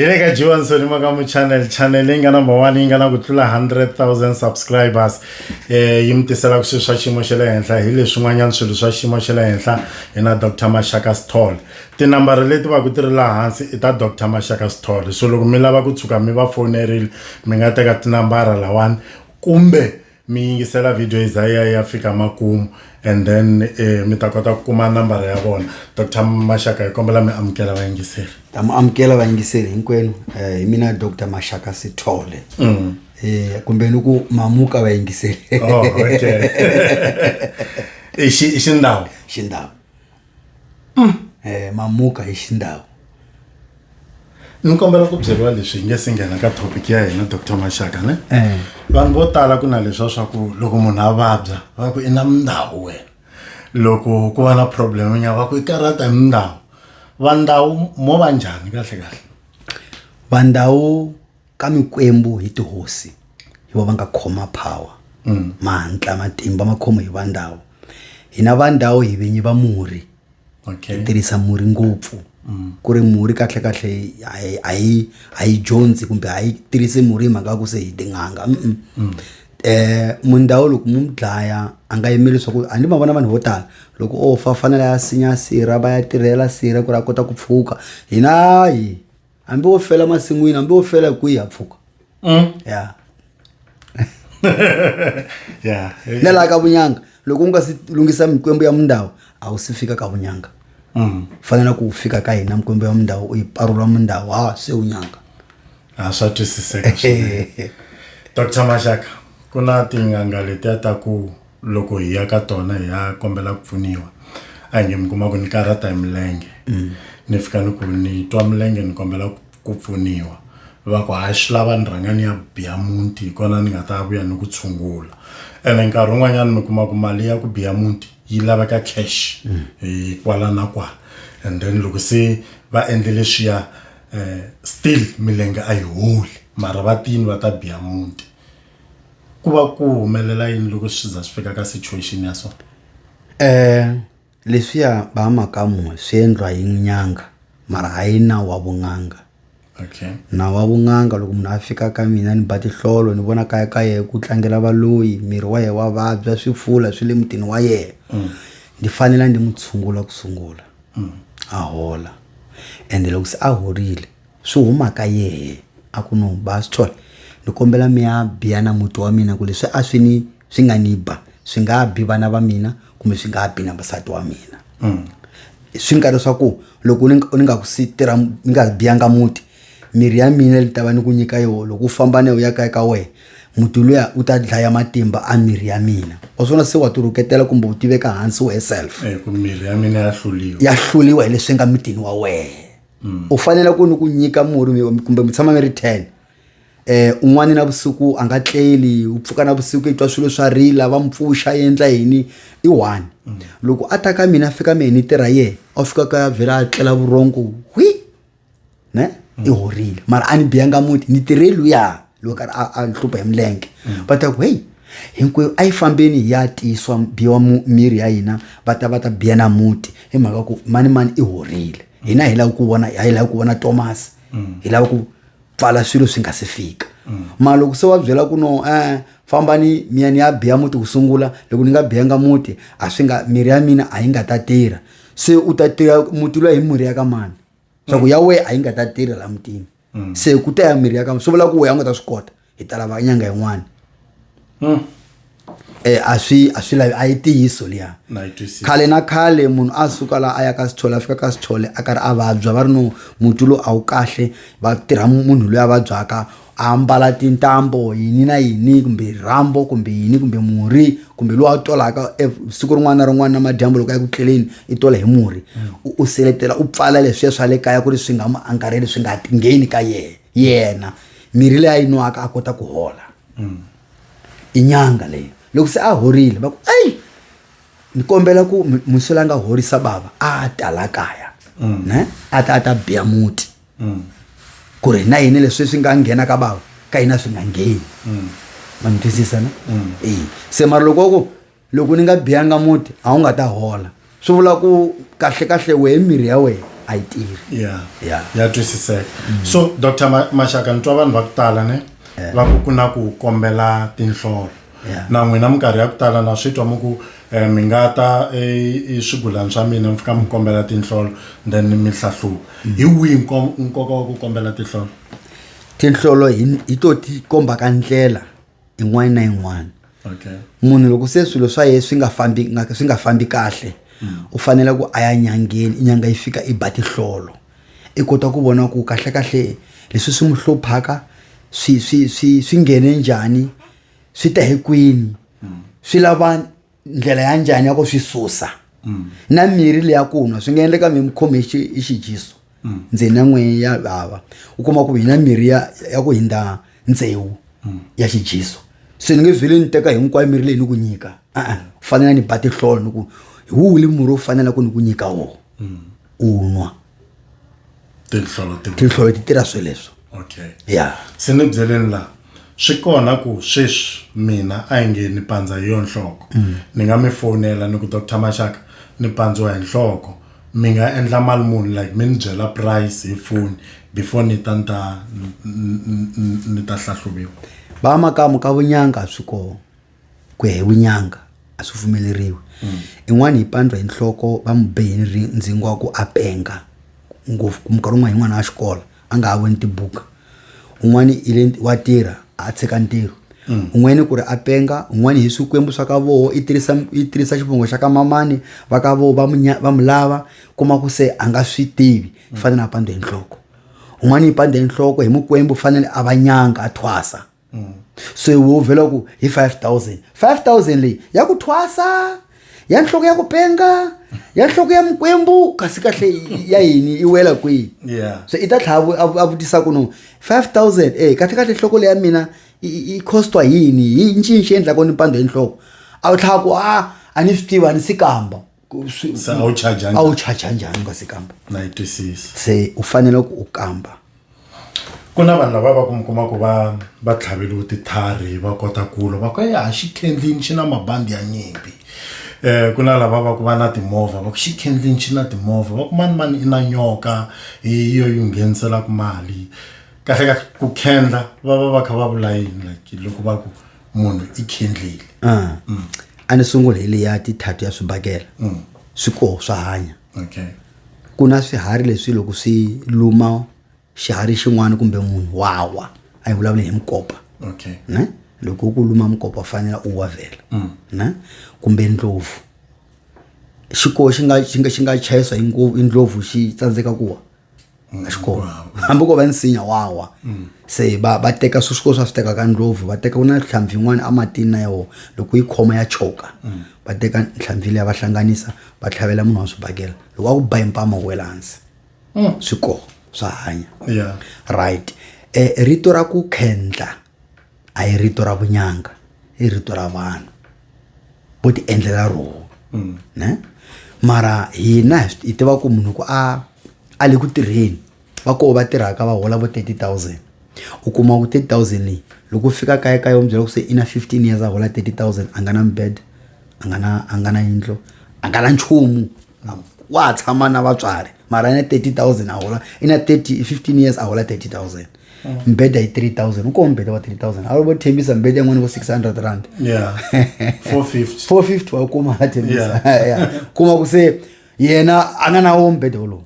hi le ka johansoni makamu channel channel leyi nga number one yi nga na ku tlula 100000 subscribers um yi mi tiselaka swilo swa xiyimo xa le henhla hi leswin'wanyana swilo swa xiyimo xa le henhla hi na dr mashaka stall tinambara leti va ku ti ri laha hansi i ta dr mashaka stall so loko mi lava ku tshuka mi va fonerile mi nga teka tinambara lawani kumbe mi yingisela video yi za ya ya fika makumu and then eh, mi ta kota ku kuma nambara ya vona dr maxaka hi kombela mi amukela vayingiseri ta mi amukela vayingiseri hinkwenu um hi mina dr maxaka sithole um kumbe ni ku mamuka vayingiseri oh, okay. i xindhawu xindhawu Eh mamuka hi xindhawu. Ni kombela ku byeriwa leswi hi nge se nghena ka topic ya hina Doctor Maxaka ne. Eh. Vanhu vo tala ku na leswa swa ku loko munhu a vabya va ku i na mindhawu wena. Loko ku va na problem ya va ku i karata hi mindhawu. Va ndhawu mo va njhani kahle kahle? Va ndhawu. ka mikwembu hi tihosi hi va va nga khoma power mm. mahantla matimba ma khomo hi va ndhawu hina va ndhawu hi vinyi va murhi okay. hi tirhisa murhi ngopfu mm. ku ri murhi kahlekahle a yi dyondzi kumbe a yi tirhisi murhi hi mhaka ku se hi tin'anga mm -mm. mm. eh mundhawu loko mu dlaya a nga yimeli leswaku a ni ma vona vanhu vo tala loko o fa fanele ya sinya sirha va ya tirhela sirha ku ri a kota ku pfuka hina yi hambi wo fela masin'wini hambi wo fela hi kwihi ha pfuka Mm. ya Yeah. na laha ka vunyanga loko u nga si lunghisa mikwembu ya mundawu a wu si fika ka vunyanga Mm. fanela ku fika ka hina mikwembu ya mundawu u yi parula mundawu ha se unyanga Ah, swa twisiseka swinene dr maxaka ku na tin'anga letiya ta ku loko hi ya ka tona hi ya kombela ku pfuniwa a hi nge mi kuma ku ni karhata hi milenge ni fika ni ku ni twa milenge ni kombela ku- ku pfuniwa va ku hayi swi lava ni rhanga ni ya biya muti hi kona ni nga ta vuya ni ku tshungula ene nkarhi wun'wanyana mi kuma ku mali ya ku biya muti yi laveka cash hi kwala na kwala and then loko se va endle leswiya um still milenge a yi holi mara va tini va ta biya muti ku va ku humelela yini loko swi za swi fika ka situation ya so um leswiya ba makamu swi endliwa hi nyanga mara hayi nawu wa vun'anga okay nawu wa vun'anga loko munhu a fika ka mina ni ba tihlolo ni vona kaya ka yehe ku tlangela valoyi miri wa yehe wa vabya swi fula swi le mutini wa yehe ndi fanela ndi n'wi tshungula ku sungula a hola ende loko se a horile swi huma ka yehe a ku no ba swi thola ni kombela mi ya biya na muti wa mina ku leswi a swi ni swi nga ni ba swi nga ha bi vana va mina kumbe swi nga ha bi na vasati wa mina mm. swi nga leswaku loko ni nga ku si tirha ni nga biyanga muti mirhi ya mina ni ta va ni ku nyika yoho loko u famba na yo ya kaya ka wena muti luya u ta dlaya matimba a mirhi ya mina wa swona se wa ti rhuketela kumbe u tiveka hansi wehe self eh, ya hluliwa ya hluliwa hi leswi nga mitini wa wena mm. u fanele ku ni ku nyika murhi kumbe mi tshama mi ri ten eh un'wana na vusiku a nga tleli u pfuka na vusiku i twa swilo swa rila va mpfuxa endla yini i one mm. loko a ta ka mina fika mina ni tirha yena a fika ka vhela a tlela vurongo hwi ne i horile mara a ni biyanga muti ni tirhe luya loyi karhi a a hlupha hi milenge va ta ku heyi hinkwerhu a yi fambeni hi ya tiyisiwa biwa mu- miri ya hina va ta va ta biya na muti hi mhaka ku mani mani i horile hina hi lava ku vona hi lava ku vona tomasi hi lava ku pfala swilo swi nga si fika mara loko se wa byela ku no eh fambani miya ni ya biya muti ku sungula loko ni nga biyanga muti a swi nga miri ya mina a yi nga ta tirha se u ta tirha muti loyi hi murhi ya ka mani swa ku ya wehe a yi nga ta tirha la mutini mm. se ku ta ya mirhi ya ka swi vula ku weya u nga ta swi kota hi ta lava nyanga yin'wana mm. e a swi a swi lavi a yi tiyiso liya khale na khale munhu a suka laha a ya ka sithole a fika ka sithole a karhi a vabya va ri no muti lowu a wu kahle va tirha munhu loyi a vabyaka a mbala tintambo yini na yini kumbe rhambo kumbe yini kumbe murhi kumbe lowu a tolaka e siku rin'wana na rin'wana na madyambu loko a ya ku tleleni i tola hi murhi u u seletela u pfala leswiya swa le kaya ku ri swi nga mu angarheli swi nga ngheni ka yena yena mirhi leyi a yi nwaka a kota ku hola i nyanga leyi loko se a horile va ku eyi ni kombela ku mi- muswela a nga horisa bava a ta la kaya ne a ta a ta biya muti ku ri na yini leswi swi nga nghena ka bava ka hina swi nga ngheni ma ni twisisa na eyi se mara loko ku loko ni nga biyanga muti a wu nga ta hola swi vula ku kahle kahle wehe mirhi ya wena a yi tirhi ya ya ya twisiseka so dr Ma- maxaka ni twa vanhu va ku tala ne va ku ku na ku kombela tinhlolo Yeah. na n'wina minkarhi ya ku tala na swi twa mu ku eh, mi nga ta eh, i swigulani swa mina mi fika mi kombela tinhlolo then mi hlahluva hi wihi nko- nkoka wa ku kombela tinhlolo tinhlolo hi hi to ti kombaka ndlela yin'wana na yin'wana okay. munhu loko se swilo swa yena swi nga fambi swi nga fambi kahle mm. u fanele ku a ya nyangeni inyanga yi fika i ba tihlolo i kota ku vona ku kahlekahle leswi swi n'wi hluphaka swi swi swi swi nghene njhani swi ta hi kwini mm. swi lava ndlela ya njhani ya ku swi susa na mirhi leya ku nwa swi nga endleka mi mi khome hi xi- hi xijiso ndzeni na n'wini ya vava u kuma ku hi na mirhi ya ya ku hindza ntsewu ya xijiso se ni nge vhele ni teka hinkwayo mirhi leyi ni ku nyika a-a ku fanele ni ba tihlolo ni ku hi wuli murhi wo fanela ku ni ku nyika wona u nwa tinhlolo ti tinhlolo ti tirha sweleswo okay ya se ni byeleni la swi kona ku sweswi mina a yi nge ni pandza hi yo nhloko mm. ni nga mi fonela ni ku dr maxaka ni pandziwa hi nhloko mi nga endla mali muni like mi ni byela price hi foni before ni ta ni ta ni ta hlahluviwa va makamu ka vunyanga swi kona ku ya hi vunyanga a swi pfumeleriwi mm. in'wana yi pandwa hi nhloko va mu behe ni ndzingo wa ku a penga ngopfu ku minkarhi un'wana yin'wana wa xikolo a nga ha voni tibuka un'wana i le wa tirha a tshika ntirho mm. un'wana ku ri a penga un'wana hi swikwembu swa ka voho i tirhisa i tirhisa xivongo xa ka mamani va ka voho va mu va mu lava kuma ku se a nga swi tivi mm. fanele a pandwa hi nhloko un'wana yi pandwa hi nhloko hi mukwembu fanele a va nyanga a thwasa mm. se wo vhela ku hi 5000 5000 leyi ya ku thwasa ya nhloko ya ku penga ya nhloko ya mikwembu kasi kahle ya yini i wela kwihi yeah. so i ta tlhava a vutisa ku no 5000 e kahle kahle nhloko leyi ya mina i costwa yini hi ncini xi endlaka ni pandza hi nhloko a wu tlhava ku a a ni swi tiva a ni si kamba swi- Se a wu charge njhani? a wu charge njhani u nga si kamba na yi twisisa se u fanele ku u kamba ku na vanhu lava va ku mi kuma ku va va tlhaveliwe titlhari va kota ku lwa va ku ya xikhendlini xi na mabandi ya nyimpi um ku na lava va ku va na timovha va ku xikhendlini xi na timovha va ku mani mani i na nyoka hi yo yi ngheniselaka mali kahlekahle ku khendla va va va kha va vula yini like loko va ku munhu i khendlile Ah. Mm. a ni sungula hi leya tithatu ya swibakela Mm. swi koho swa hanya okay ku na swiharhi leswi loko swi luma xiharhi xin'wana kumbe munhu wawa a yi vulavuli hi mukopa okay ne loko ku luma mukopa u fanele u wa vhela Mm. ne kumbe ndlopfu xikoho xi nga xi nga xi nga chayiswa hi ngo- hi ndlopfu xi tsandzeka ku wa a xi kona hambi ko va nsinya wawa mm. se va va teka swi swikolo swa swi teka ka ndlopfu va teka ku na nhlampfi yin'wana ematini na yoho loko yi khoma ya choka mm. va teka nhlampfi leyi va hlanganisa va tlhavela munhu wa swi bakela loko a ku ba impama wela hansi mm. swi koho swa hanya right e, rito ra ku khendla a hi rito ra vunyanga i rito ra vanhu vo ti endlela roho mm. ne mara hina hi tiva ku munhu ku a a le ku tirheni va koho va tirhaka va hola vo 30000 u kuma ku 30000 leyi loko u fika kaya ka yo byela ku se i na 15 years a hola 30000 a nga na mbed a nga na a nga na yindlo a nga na nchumu wa ha tshama na vatswari mara i na 30000 a hola i na 30 15 years a hola 30000 mbhedha i-three thousand uko mbhedha wa-three thousand avo vothembisa mbhedha yin'wana vo six hundred rand yeah 450 four fifty wa kuma a thembisa Yeah. kuma ku se yena a nga na wo mbhedha wolowo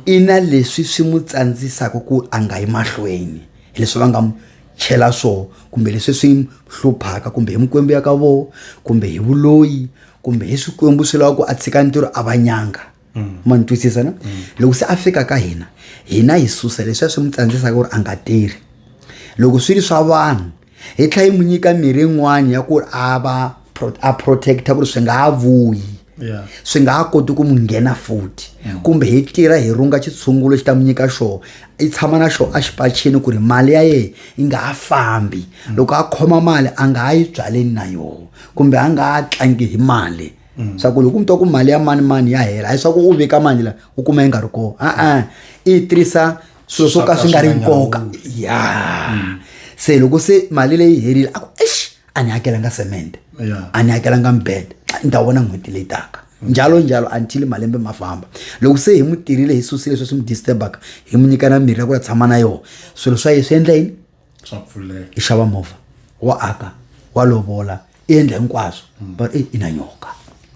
i na leswi swi n'wi tsandzisaka ku a nga yi mahlweni hi leswi va nga mu chela swona kumbe leswi swi n'wi hluphaka kumbe hi mikwembu ya ka vona kumbe hi vuloyi kumbe hi swikwembu swi lava ku a tshika ntirho a va nyanga ma ni twisisa na loko se a fika ka hina hina hi susa leswiya swi n'wi tsandzisaka ku ri a nga tirhi loko swi ri swa vanhu hi tlhela yi n'wi nyika mirhi yin'wana ya ku ri a va pro- a protecta ku ri swi nga ha vuyi Yeah. swi nga ha koti ku n'wi nghena futhi kumbe hi tirha hi runga xitshungulo xi ta n'wi nyika xona i tshama na xona exipachini ku ri mali ya yena yi nga ha fambi loko a khoma mali a nga ha yi byaleni na yona kumbe a nga ha tlangi hi mali mm. swa ku loko u mi twa ku mali ya mani mani ya hela a swa ku u veka mali la u kuma yi nga ri kona a-a i tirhisa swilo swo ka swi nga ri nkoka ya mm. se loko se mali leyi herile a ku exi a ni hakelanga cement a ni hakelanga mbed ni ta vona n'hweti leyi taka njalo njalo until malembe ma famba loko se hi mu tirhile hi susile sweswi mu disturbaka hi mu nyika na mirhi ya ku la tshama na yona swilo swa ye swi endla yini swa pfuleka i xava movha wa aka wa lovola i endla hinkwaswo hmm. but i na nyoka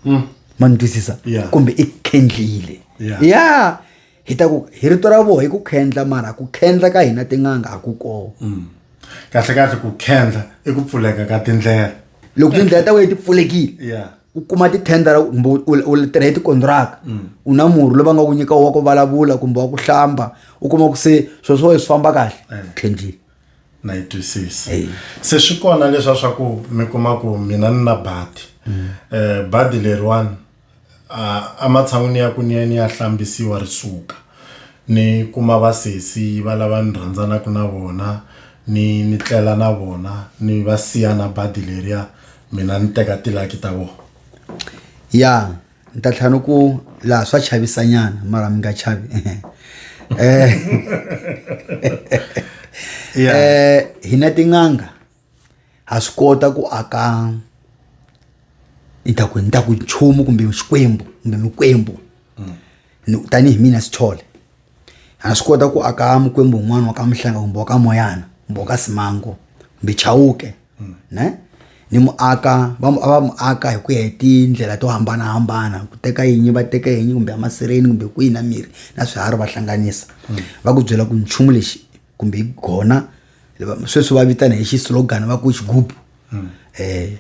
hmm. ma ni twisisa kumbe i khendlile ya hi ta ku hi rito ra voho hi ku khendla mara ku khendla ka hina tin'anga a ku koo hmm. kahle kahle ku khendla i ku pfuleka ka tindlela loko tindlela ta wena ti pfulekile u kuma tithendara kumbe u tirha hi tikontiraka mm. u na murhi loyi va nga ku nyika wa ku vulavula kumbe wa ku hlamba u kuma ku se swilo swa wena swi famba kahle tlhenjini eh. na yi twisisa se swi kona leswa swa ku mi kuma ku mina ni na badi mm. eh, badi leriwani a matshan'wini ya ku ni ya ni ya hlambisiwa ri suka ni kuma vasesi va lava ni rhandzanaka na vona ni ni tlela na vona ni va siya na badi leriya mina ni teka tilaki ta vona ya ni ta tlhela ni ku laha swa chavisanyana mara mi nga chavi eh hi na tin'anga ha swi kota ku aka ni ta ku ni ta ku nchumu kumbe xikwembu kumbe mikwembu Ni- tanihi mina sithole ha swi kota ku aka mukwembu un'wana wa ka mihlanga kumbe wa ka moyana kumbe wa ka simango kumbe chawuke ne ni muaka va mu- a va mu aka hi ku ya hi tindlela to hambanahambana ku teka yinyi va teka yinyi kumbe amasireni kumbe kwihi na mirhi na swiharhi va hlanganisa va ku byela ku nchumu lexi kumbe hi gona sweswi va vitana hi xislogani va ku xigubu um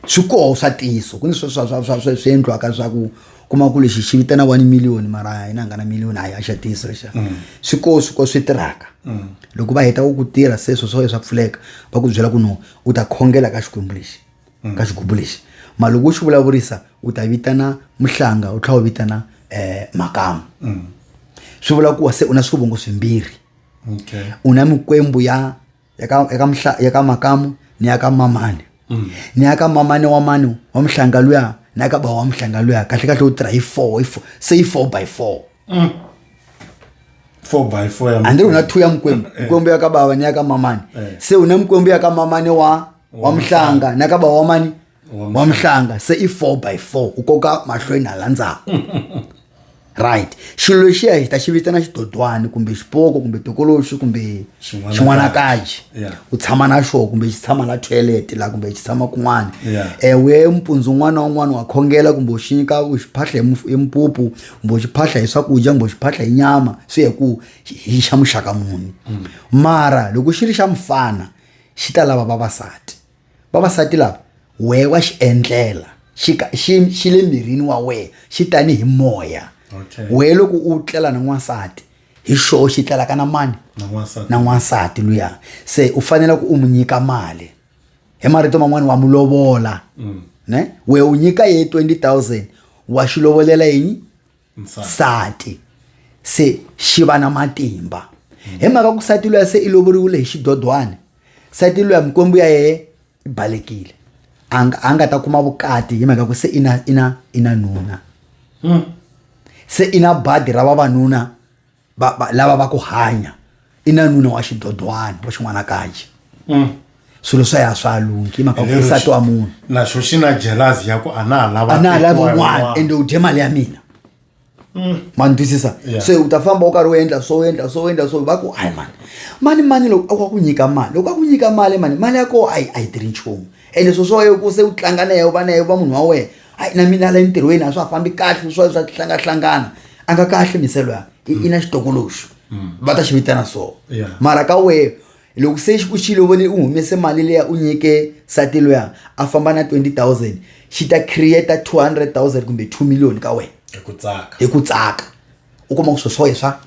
swi koho swa ntiyiso ku ni swi endliwaka swa ku kuma ku lexi xi vitana one million mara a yi na nga na million a yi a xa ntiyiso lexa mm. swi koho swi koho swi tirhaka mm. loko va heta ku ku tirha sweswo swo swa pfuleka va ku byela ku no u ta khongela ka xikwembu lexi mm. ka xigubu lexi mara loko u xi vulavurisa u ta vitana muhlanga u tlhela u vitana um makamu swi vula ku wa se u na swivongo swimbirhi okay. una mikwembu ya ya ka ya ka mhla ya ka makamu ni ya ka mamani mm. ni ya ka mamani wa mani wa mhlanga luya ni ya ka bava wa mhlanga luya kahle kahle u tirha hi four hi four se yi four by four mm. four by four ya andiri una two ya mikwembu eh. mikwembu ya ka bava ni ya ka mamani eh. se una mikwembu ya ka mamani wa wa mhlanga ni ya ka bava wa mani wa mhlanga se i 4 by 4 u koka mahlweni hala ndzhaku right xilo lexiya hi ta xi vitana xidodwana kumbe xipoko kumbe tokoloxi kumbe Xin'wanakaji. xin'wanakaji Yeah. u tshama na xona kumbe xi tshama la toilet la kumbe xi tshama kun'wana Yeah. ewe mpundzu un'wana na un'wana wa khongela kumbe u xi nyika u xi phahla hi muf- hi mpupu kumbe u xi phahla hi swakudya kumbe u xi phahla hi nyama swi ya hi ku xi- hi xa muxaka muni mara loko xi ri xa mfana xi ta lava vavasati vavasati lava wehe wa xi endlela xi ka- xi xi le mirini wa wena xi tanihi moya Okay. wehe loko u tlela na n'wansati hi xoho xi tlelaka na mani Na n'wansati. na n'wansati luya se u fanele ku u n'wi nyika mali hi marito man'wani wa n'wi lovola ne wehe u nyika ye 20000 wa xi lovolela yini nsati se xi va na matimba hi mhaka ku nsati luya se i lovoriwile hi xidodwana nsati luya mikwembu ya yena i balekile a nga a nga ta kuma vukati hi mhaka ku se i na i na i na nuna se i na badi ra vavanuna va, va lava va ku hanya i na nuna wa xidodwana wa xin'wanakaji mm. swilo swa ya swa lungi mhaka ku nsati wa munhu naxo xi na jelazi ya ku a na ha lava a na ha lava un'wana ende u dye mali ya mina mm. ma ni twisisa se u ta famba u karhi u endla swo endla swo endla swo va ku hayi mani mani mani loko a ku a ku nyika mali loko a ku nyika mali mani mali ya koho a yi a yi tirhi nchumu ende swo swo ku se u tlanga na yehe u va na yehe u va munhu wa wena hayi na mina la entirhweni a swi ha fambi kahle swa swa hlangahlangana a nga kahle miselo ya i i na xitokoloxo va ta xi vitana so Yeah. mara ka wehe loko se xi ku xilo vone u humese mali leya u nyike sati loya a famba na 20000 xi ta create 200000 kumbe 2 million ka wena hi ku tsaka hi ku tsaka u kuma ku swo swoye swa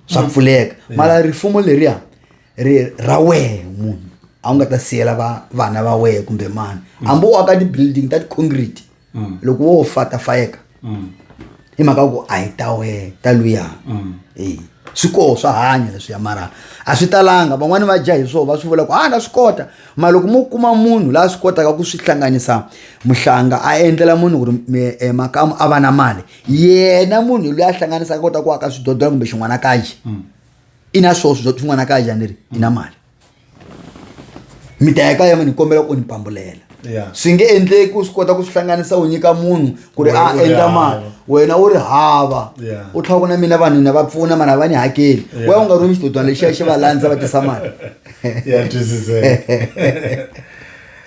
swa pfuleka mara rifumo leriya ri ra wehe munhu a wu nga ta siyela va vana va wehe kumbe mani hambi u aka ti-building ta ti-concrete Mm. loko wo fa ta fayeka Mm. hi mhaka ku a hi ta wehe ta luya Mm. Eh, swi koho swa hanya leswiya mara a swi talanga van'wani va dya hi swona va swi vula ku ha na swi kota mara loko mo kuma munhu la swi kotaka ku swi hlanganisa muhlanga a endlela munhu ku ri mi- eh, makamu a va na mali yena munhu loyi a hlanganisaka kota ku aka swidodola kumbe xin'wana kaji i na swoswo swa swin'wana kaya njhani leri i na mali mi ta ya kaya mi ni kombela ku ni pambulela Yeah. swi nge endleki ku swi kota ku swi hlanganisa u nyika munhu ku ri Wena a u ri endla hava. mali wena u ri hava Yeah. u tlhela ku na mina vanhu na va pfuna mara va ni hakeli Yeah. wena u nga rhumi xitodwana lexiya xi va landza va tisa mali ya twisiseka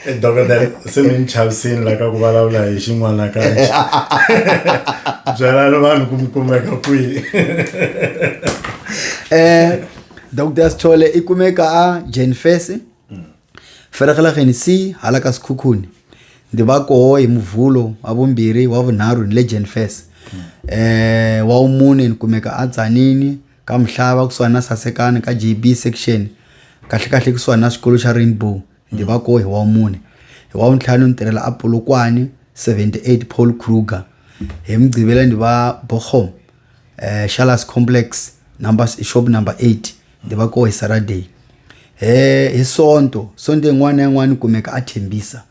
eh, dokodela se mi ni chavisini la ka ku vulavula hi xin'wana kanje byelani vanhu ku mi kumeka kwihi um dokodela sithole i kumeka a jane fese mm. feregelageni c hala ka sekhukhuni ndzi va koho hi muvulo wa vumbirhi wa vunharhu ni le jane fese eh wa umune ni kumeka a tsanini ka mhlava kusuhani na sasekani ka jb section kahle kahle kusuhani na xikolo xa rainbow Ndzi va kona hi wa vumune. Hi wa vuntlhanu ndzi tirhela a Polokwane seventy eight Paul Kruger. Hi Mugqivela ndzi va Borgom Shallas complex number shop number eight ndzi va kona hi Saturday. Hi Sonto Sonto yin'wana na yin'wana ni kumeka a Thembisa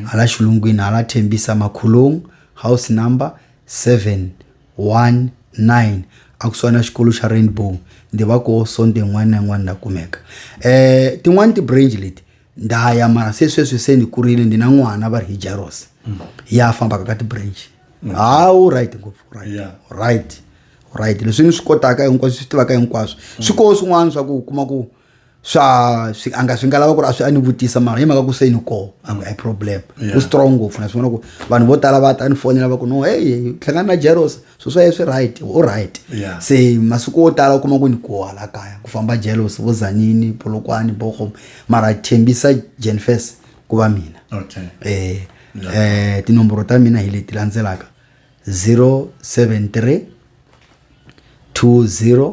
hala xilungwini hala Thembisa Makhulung house number seven. 19 a kusuhana xikolo xa rainbow ndzi va ko sonto yin'wana na yin'wana na kumeka um tin'wani ti-brange leti nda ya mara se sweswi se ni kurile ndi na n'wana va ri hi jaros ya fambaka ka ti-brange ha u right ngopfu u right Yeah. u right u right leswi ni swi kotaka hinkwaswo swi tivaka hinkwaswo swi koho swin'wana swa ku u kuma ku swa swi a nga swi nga lava ku ri a swi a ni vutisa mara hi mhaka ku se ni koho a nge i problem u strong ngopfu na swivona ku vanhu vo tala va ta ni fonela va ku no hey hlangana na jeros swo swa ye swi right u right Yeah. se masiku wo tala u kuma ku ni koha la kaya ku famba jealous vo zanini polokwane bohom mara thembisa jenfes ku va mina okay eh eh tinomboro ta mina hi leti landzelaka 073 20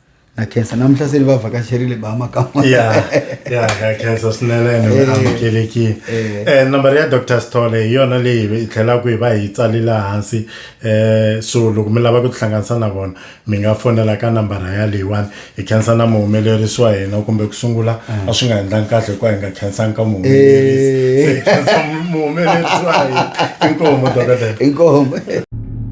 na khensa namuhla se ni va vhakacherile ba makama ya ya ka khensa swinene ni Eh. amukelekile Eh. eh nambara ya dr stole hi yona leyi hi tlhelaku hi va hi tsalela hansi eh so loko mi lava ku tihlanganisa na vona mi nga fonela ka nambara ya leyiwani hi khensa na muhumelerisi wa hina kumbe ku sungula a swi nga endlangi kahle hikuva hi nga khensanga ka muhumelerisi Eh. Se hi khensa muhumelerisi wa hina inkomu dokodela inkomo